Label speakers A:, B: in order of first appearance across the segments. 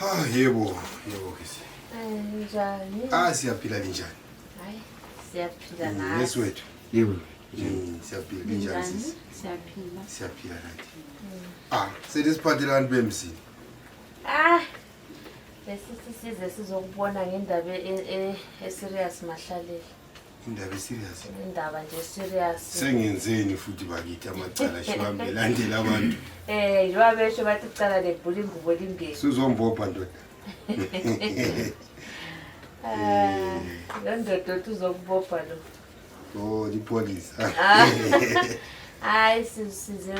A: Ah, yebo, yebo kisi. Eh, njani?
B: Ah, siyaphila
A: linjani? Hayi,
B: siyaphila mm, nathi. Yes wethu. Yebo. Mm,
C: siyaphila
A: linjani sisi? Siyaphila. Siyaphila
B: nathi.
A: Mm. Ah, selisiphathela abantu bemzini. Ah,
B: besisisize sizokubona ngendaba e, e, e-serious mahlaleli. indaba
A: eserious indaba nje
B: serious sengenzeni futhi
A: bakithi amacala shiwami elandela abantu eh njengoba besho
B: bathi icala lebhula ingubo limbili sizombopha ndoda
A: eh,
B: lo ndoda othi uzokubopha lo o oh,
A: lipholisa ah. hayi
B: size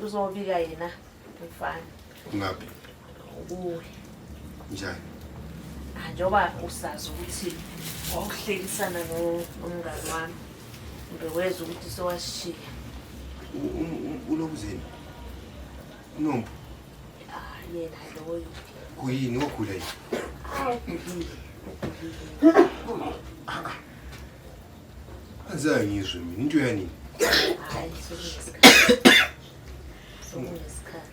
B: uzobika yena mfana Ngaphi?
A: Kuwe. Njani? Ah,
B: njengoba usazi ukuthi wawuhlekisana nomngani wami ngeweza ukuthi sewasishiya
A: ulokuzeni unompu ah,
B: yena loyo kuyini wagula yini
A: angizwe mina into yanini hayi
B: sokunesikhathi sokunesikhathi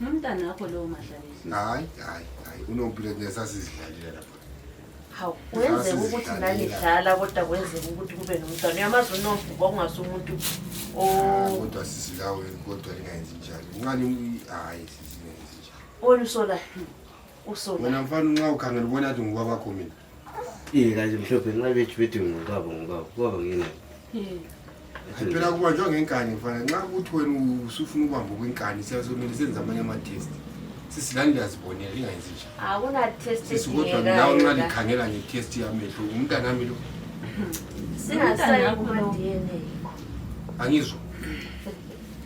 B: Nomntana wakho lowo
A: mahlalisi. Hayi, hayi, hayi. Unompilo nesasizidlalela lapha.
B: Hawu, kwenzeka ukuthi nanidlala kodwa kwenzeka ukuthi kube nomntwana. Uyamazi unomvuba ongase umuntu o ah,
A: Kodwa sisi lawe kodwa lingayenzi njalo. Unqani hayi sisi lingayenzi njalo. Wena usolayo. Usolayo.
B: Wena
A: mfana unxa ukhangela ubona ukuthi ngubaba kho mina. Ikazi
C: mhlophe nxa bethi bethi ngubaba ngubaba kubaba
A: ngina. Phela kubanjwa ngenkani mfana nxa ukuthi wena usufuna ubamba kwinkani siyasomele senza amanye ama-test sisilani liyazibonela lingayenzi nje sisikodwa
B: nawe nxa
A: likhangela nge-test yamehlo umntana ami lo
B: angizwa